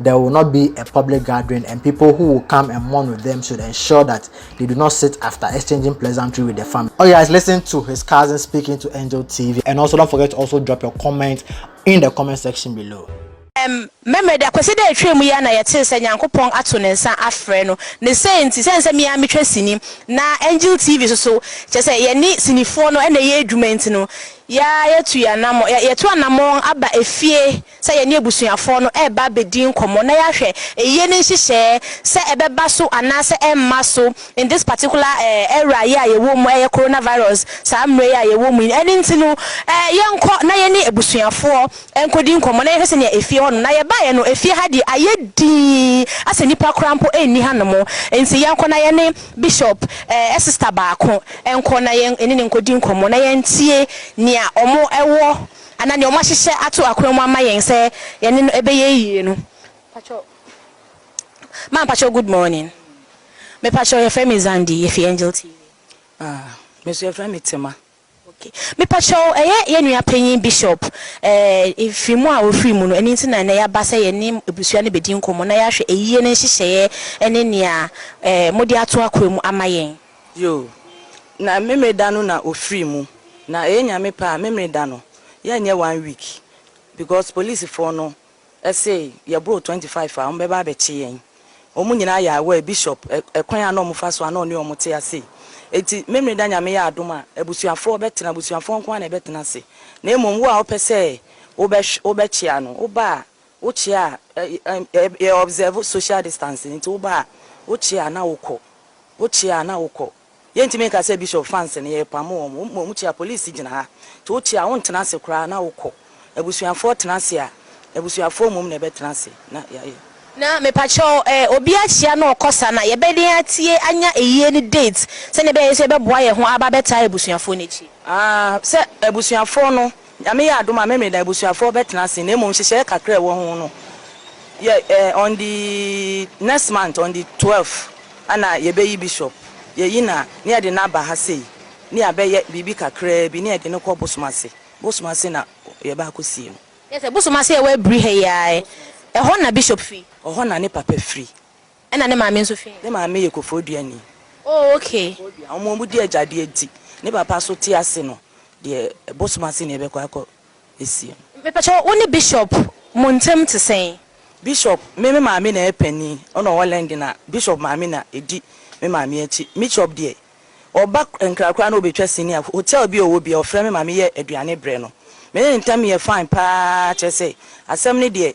There will not be a public gathering and people who will come and mourn with them should ensure that they do not sit after exchanging pleasantry with the family. Okay guys, listen to his cousin speaking to Angel TV and also don't forget to also drop your comment in the comment section below. Mmɛmmerɛ da Kwasi da a ɛtwaam yi ara na yɛtee sɛ Nyankopɔn ato ne nsa afrɛ no. Ne sei nti, sɛne sɛ me ara metwa sini, na Angel TV nso so, kyerɛ sɛ yɛne sinifoɔ no na ɛyɛ adwuma nti no, yɛatu yɛn anammɔn, yɛatu anammɔn aba efie, sɛ yɛne abusuafoɔ no reba abɛdi nkɔmmɔ na yɛahwɛ ayie no nhyehyɛɛ sɛ ɛbɛba so anaasɛ ɛremma so in this particular era yi a yɛwɔ mu, ɛyɛ coronavirus saa mmerɛ yi a yɛwɔ mu yi. Ɛno nti no yɛnkɔ na yɛne abusuafoɔ nkɔdi nkɔmmɔ na yɛhwɛ sɛdeɛ efie hɔnom. Na yɛbaeɛ no efie ha deɛ ayɛ dinn asɛ nnipa koraa mpo nni hanom nti yɛnkɔ na yɛne Bishop sister baako nkɔ na yɛne no nkɔdi nkɔmmɔ na yɛntie nea wɔwɔ Anaa nea wɔahyehyɛ ato akwan mu ama yɛn sɛ yɛne no ɛbɛyɛ yie no. Mpakyɛw ma mpakyɛw good morning me pakyɛw yɛfrɛ me Zandi yɛfi angel TV. Ah me nso yɛfrɛ me Tema. Okay me pakyɛw ɛyɛ yɛn nua panyin Bishop eh ɛfiri mu a ɔfiri mu no ɛno nti na ɛnɛ yɛaba sɛ yɛne abusua no bɛdi nkɔmmɔ na yɛahwɛ ayie no nhyehyɛeɛ ɛne nea eh mode ato akwan mu ama yɛn. Yoo, na Memeneda no na ɔfirii mu, na ɛyɛ Nyame pɛ a Memeneda no yɛnyɛ one week because policefoɔ no se yɛboro twenty five a wɔbɛba abɛkye yɛn, wɔn nyinaa yɛ aware, Bishop kwan a na wɔfa so a na ɔne wɔn te ase, enti Memeneda Nyame yɛ adom a abusuafoɔ bɛtena, abusuafoɔ nko ara na ɛbɛtena ase, na mmom wo a wopɛ sɛ wobɛhwe wobɛkyea no woba a Wo kyea a, yɛ observe social distancing nti wo ba a wo kyea a na wo kɔ, wo kyea a na wo kɔ. Yɛ ntumi nka sɛ Bishop fans no yɛ pamo wɔn, wo mmom wo kyea police gyina ha nti wo kyea a wo ntena ase koraa na wo kɔ. Abusuafoɔ tena ase a, abusuafoɔ mmom na ɛbɛ tena ase na yɛ ayɛ. Na mepakyɛw eh, obi akyea na ɔkɔ saa na yɛ bɛ den atie anya ayie ne date sɛdeɛ ɛbɛyɛ yɛ nso yɛ bɛ boa yɛ ho aba abɛ taa abusuafoɔ no akyi. Aah, sɛ abusuafoɔ no Nyame yɛ adom a Memeneda abusuafoɔ bɛtena ase na mmom nhyehyɛɛ kakra a ɛwɔ ho no yɛ eh on the next month on the twelve ɛna yɛbɛyi bishop yɛyi no a ne yɛde no aba ha sei ne yɛabɛyɛ biribi kakraa bi ne yɛde no kɔ bosom ase bosom ase na yɛba akɔsie no. Kyerɛ sɛ bosom ase a ɛwɔ abiri ha yi ara ɛ ɛhɔ na bishop firi? Ɛhɔ na ne papa firi. Ɛna ne maame nso fi he? Ne maame yɛ Kofoduani. Oh okay. Kofoduan. Wɔn wɔn di agyadeɛ nti ne papa nso te ase no deɛ bosom ase na yɛbɛkɔ akɔ asie no. Mepakyɛw, wo ne Bishop mo ntɛm te sɛn? Bishop, me me maame na ɛyɛ panin, ɔna ɔwɔ Lɛnde na Bishop maame na ɛdi me maame akyi. Mishop deɛ, ɔba Nkra koraa na ɔbɛtwa sini a, hotel bi a ɔwɔ biara ɔfrɛ me ma meyɛ aduane brɛ no. Me ne ne ntɛm yɛ fine paa kyerɛ sɛ asɛm no deɛ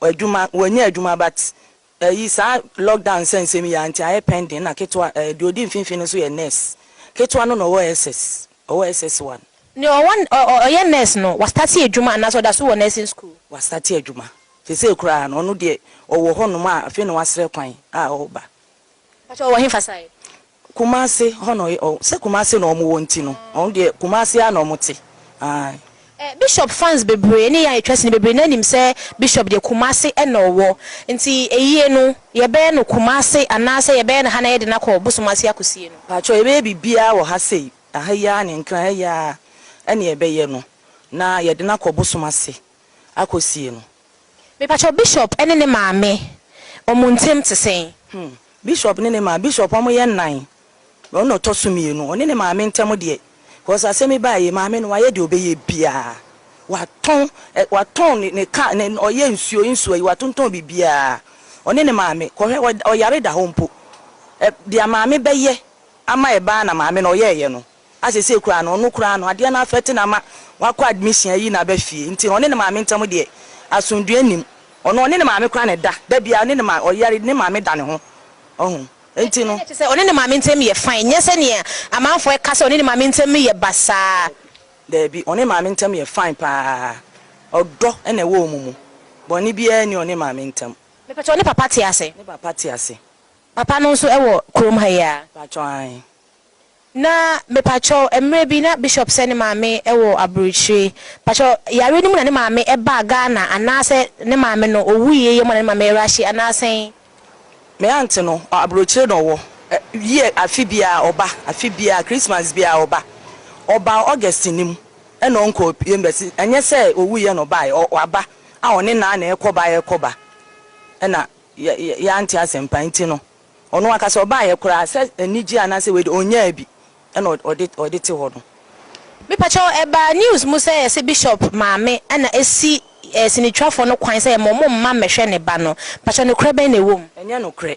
Adwuma wɔnyɛ adwuma but ɛyi saa lockdown nsɛnsɛm yi a nti ayɛ pending na ketewa ɛɛ deɛ ɔdi mfimfini no nso yɛ nurse ketewa no na ɔwɔ SS ɔwɔ SS one. Deɛ ɔwɔ ɔ ɔ ɔyɛ nurse no wa starte adwuma anaasɛ ɔda so wɔ nursing school? Wa starte adwuma sesei koraa no ɔno deɛ ɔwɔ hɔ nom a afei na wasrɛ kwan a ɔreba. Mpakyɛw ɔwɔ hefa side? Kumase hɔ na ɔyɛ ɔɔ sɛ Kumase na ɔmo wɔ nti no ɔno deɛ Kumase ara na ɔmo te ae. Eh Bishop fans bebree ne yɛn a yɛtwa sini bebree naa nim sɛ Bishop deɛ Kumase na ɔwɔ nti ayie no yɛbɛyɛ no Kumase anaa sɛ yɛbɛyɛ no ha na yɛde no akɔ Bosom ase akosie no? Pakyɛw yɛbɛyɛ biribiara wɔ ha sei, aha yi ara ne Nkran ha yi ara ɛna yɛbɛyɛ no na yɛde no akɔ Bosom ase akɔ sie no. Mepakyɛw Bishop ne ne maame wɔn ntem te sɛn? Hmm. Bishop ne ne maa, Bishop wɔn yɛ nnan, na ɔno na ɔtɔ so mmienu. Ɔne ne maame ntem deɛ, cos asɛm yi baa yɛ, maame no wayɛ deɛ ɔbɛyɛ biaa. Watɔn ɛ, watɔn ne, ne car, ne, ɔyɛ nsuo, nsuo yi, watontɔn biribiaa. Ɔne ne maame, kɔhwɛ, ɔ, ɔyare da hɔ mpo. Ɛ, deɛ maame bɛyɛ ama ɛbaa na maame no ɔyɛɛyɛ no. a sesei koraa no ɔno koraa no adeɛ no affect no ama wakɔ admission ayi naba fie nti no ɔne ne maame ntam deɛ asomdwoeɛ nnim ɔno ɔne ne maame koraa na ɛda da biara ɔne ne maame ɔyare ne maame da ne ho ɔho nti no. Ɛkyɛ sɛ ɔne ne maame ntam yɛ fine nyɛ sɛdeɛ amanfoɔ ɛka sɛ ɔne ne maame ntam yɛ basaa. Daabi ɔne maame ntam yɛ fine paa ɔdɔ na ɛwɔ wɔn mu bɔne biara nni ɔne maame ntam. Mepakyɛw ne papa te ase? Ne papa te ase. Papa no nso wɔ kurom ha yi aa? Mpakyɛw aane. Na mepakyɛw, mmerɛ bi na Bishop sɛ ne maame wɔ aburokyire. Pakyɛw, yareɛ no mu na ne maame baa Ghana anaasɛ ne maame no ɔwuiɛ yɛ mu na ne maame rushe anaa sɛn? Me aunt no, aburokyire na ɔwɔ. Year afe biara ɔba, afe biara Christmas biara ɔba. Ɔbaa August no mu ɛna ɔnkɔɔ biem but ɛnyɛ sɛ ɔwuiɛ na ɔbaeɛ, waba a ɔne naa na ɛrekɔba ɛrekɔba ɛna yɛante asɛmpa nti no Ɔno ankasa ɔbaeɛ koraa sɛ anigyeɛ anaasɛ wei deɛ ɔnnyaa bi ɛna ɔde te hɔ no. Mepakyɛw, ɛbaa news mu sɛ yɛse Bishop maame na asi sinitwafoɔ no kwan sɛ yɛma ɔmo mma mmɛhwɛ ne ba no. Mpakyɛw nokorɛ bɛn na ɛwɔ mu? Ɛnyɛ nokorɛ,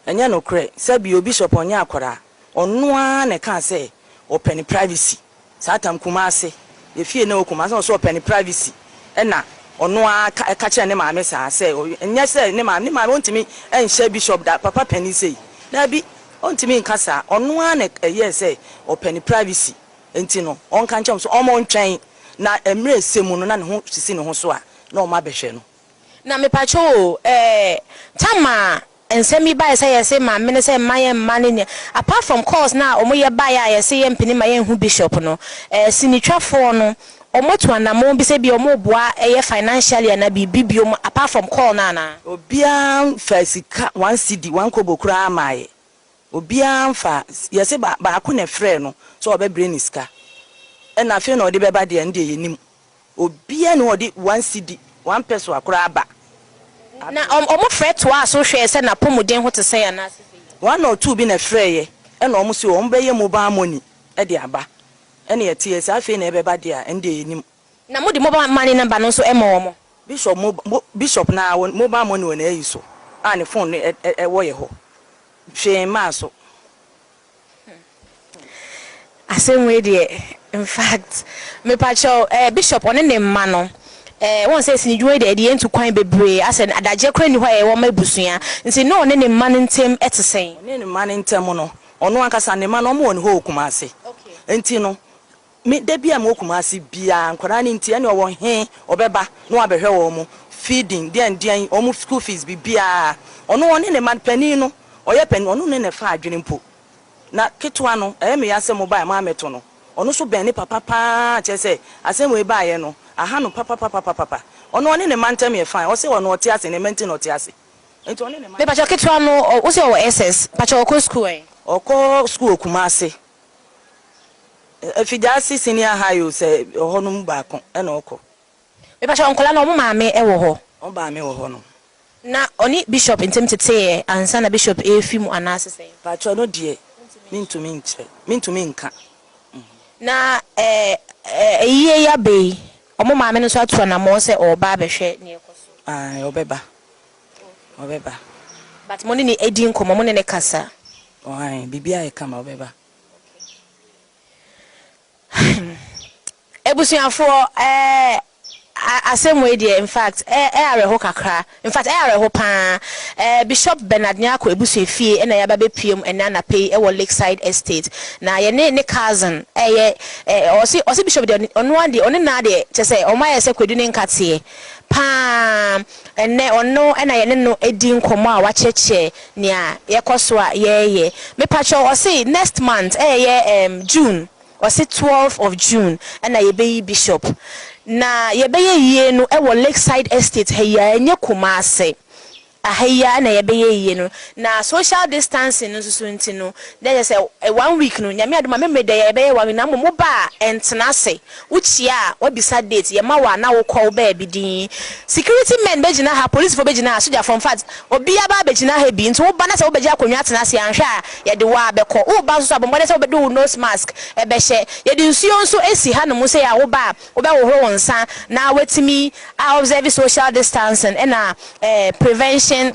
ɛnyɛ nokorɛ, sɛbi o Bishop ɔnyɛ akwadaa. Ɔno ara na ɛkaa sɛ ɔpɛ ne privacy saa tam Kumasi yɛ fie na ɛwɔ Kumasi na ɔsɛ ɔpɛ ne privacy ɛna ɔno ara ka ɛka kyerɛ ne maame saa sɛ nyɛ sɛ ne maame ne maame ɔntumi nhyɛ bishop da papa panin sei daabi ɔntumi nka saa ɔno ara na ɛyɛɛ sɛ ɔpɛ ne privacy nti no ɔnka nkyerɛ wɔn sɛ wɔn ntwɛn na mmerɛ ɛsɛ mu no na ne ho sisi ne ho so a na wɔn abɛhwɛ no. Na mepakyɛw o ɛɛ Tama Nsɛm yi bae sɛ yɛse ma mene sɛ mma yɛn mma ne nea apart from calls no a wɔn yɛ baeɛ a yɛse yɛn mpene ma yɛn hu bishop no eh sinitwa foɔ no wɔn atu anamɔn bi sɛ bia wɔn reboa ɛyɛ financially anaa biribi biom apart from call no anaa. Obiara nfaa sika one cedi one kobo koraa mmaeɛ obiara nfaa yɛse ba baako na ɛfrɛɛ no sɛ ɔbɛbre ne sika ɛna afei na ɔde bɛba deɛ ɛno deɛ yɛnim. Obiara nni hɔ a ɔde one cedi, one pesoa koraa ba. Na wɔn frɛ toaa so hwɛɛ sɛ n'apɔmuden ho te sɛn anaase sɛ yie. One or two bi na ɛfrɛeɛ, ɛna wɔn se wɔn bɛyɛ mobile money de aba. Ɛna ɛteɛ, sɛ afei na ɛbɛba deɛ a, ɛno deɛ yɛnnim. Na mode mobile money number no nso ma wɔn? Bishop mo, mo, Bishop no ara, wɔn mobile money wɔ n'ayi so a ne phone no ɛ, ɛ, ɛwɔ yɛ hɔ. Hwee mmaa so. Asɛm wei deɛ infact mepakyɛw eh bishop ɔne ne mma no eh wohu sɛ sini dwuma yi deɛ ɛde yɛn tu kwan bebree asɛ adagyeɛ koraa nni hɔ a yɛyɛ wɔ ma abusua nti ne ɔne ne mma no ntem ɛte sɛn? Ɔne ne mma no ntem no ɔno ankasa ne mma no wɔn wɔ ne hɔ wɔ Kumasi nti no Me da biaa mewɔ Kumasi biaa nkwadaa no nti ɛne ɔwɔ he ɔbɛba na wabɛhwɛ wɔn mo feeding deɛn deɛn wɔn mo school fees bibiaa ɔno ɔne ne ma panin no ɔyɛ panin ɔno ne nɛfa adwene mpo na ketewa no ɛyɛ me ya sɛ mo baɛ moamɛto no ɔno so bɛn ne papa paa kyerɛ sɛ asɛm wei baayɛ no aha no papapapapapa ɔno ɔne ne ma ntɛm yɛ fine ɔse ɔno ɔte ase ne ma nti na ɔte ase nti ɔne ne ma. Mepakyɛw ketewa no ɔ wose ɔwɔ SS pakyɛw ɔkɔ school ɛ? Ɔkɔ school wɔ Kumasi. Afidaase Senior High o sɛ ɔhɔ no mu baako na ɔkɔ. Mepakyɛw nkwadaa no wɔn maame wɔ hɔ? Wɔn maame wɔ hɔ nom. Na ɔne Bishop ntam teteeɛ ansa na Bishop refi mu anaase sɛn? Pakyɛ ɔno deɛ mentumi nkyerɛ mentumi nka. Na ayie yi aba yi wɔn maame no nso atu anamɔn sɛ ɔreba abɛhwɛ nea ɛkɔ so? Ae ɔbɛba. Ɔbɛba. But mo ne no adi nkɔmmɔ, mo ne no kasa? Ɔhan, biribi ayɛ kama, ɔbɛba. Okay. Abusuafoɔ, ɛɛ, asɛm wei deɛ, in fact, ɛ, ɛyɛ awerɛho kakra. In fact, ɛyɛ awerɛho pa ara. Ɛɛ, Bishop Bernard Nyarko abusua fie na yɛaba abɛpue mu ɛnnɛ anapa yi wɔ Lakeside Estate. Na yɛne ne cousin ɛyɛ, ɛ, ɔse, ɔse Bishop deɛ, ɔno ara deɛ, ɔne no ara deɛ, kyerɛ sɛ, wɔayɛ sɛ kwadu ne nkateɛ pa ara. Ɛnnɛ, ɔno na yɛne no di nkɔmmɔ a wakyerɛkyerɛ nea yɛkɔ so a yɛreyɛ. Mepakyɛw, ɔse next month, ɛyɛ ɛɛm June, ɔse twelve of June na yɛbɛyi Bishop. Na yɛbɛyɛ yie no wɔ Lakeside Estate ha yi ara, ɛnyɛ Kumasi. Aha yi ara na yɛbɛyɛ yie no. Na social distancing no nso so nti no, na kyerɛ sɛ one week no, Nyame adom a, me mede yɛbɛyɛ one week, na mmom woba a, ntena ase. Wo kyia a wa bisa date yɛ ma wo a na wo kɔ wo baabi dinn security men bɛ gyina ha polisifo bɛ gyina ha sogyafo nfact obia ba bɛ gyina ha bi nti wo ba na sɛ wo bɛ gye akonnwa tena ase a nhwɛ a yɛ de wo a bɛ kɔ wo ba nso so a bɔ mmɔden sɛ wo bɛ de wo nose mask bɛ hyɛ yɛ de nsuo nso si ha nom sei a wo ba a wo bɛ hohoro wo nsa na wa tumi a observe social distancing ɛna eh prevention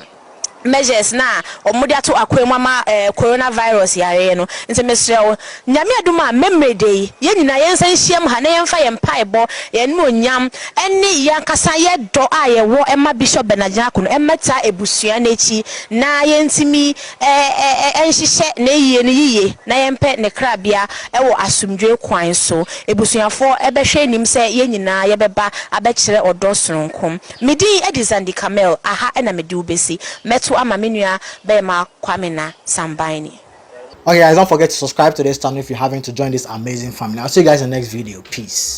measures no a wɔde ato akwan mu ama corona virus yareɛ no nti mesrɛ wo Nyame adom a mɛmere da yi yɛn nyinaa yɛn nsa nhyiam ha na yɛn fa yɛn mpaebɔ, yɛn animuonyam ɛne yɛn ankasa yɛ dɔ a yɛ wɔ ɛma Bishop Bernard Nyarko no ɛmmɛta abusua no akyi na yɛn ntumi nhyehyɛ n'ayie no yiye na yɛn pɛ ne krabea ɛwɔ asomdwoe kwan so. Abusuafoɔ ɛbɛhwɛ anim sɛ yɛn nyinaa yɛbɛba abɛkyerɛ ɔdɔ sononko Me din de Zandi Kamel, aha na mede wo bɛsi. Mɛto ama me nua bɛɛma Kwame na Sambanni. Okay guys don't forget to subscribe to this channel if you haven't to join this amazing family I'll see you guys in the next video peace.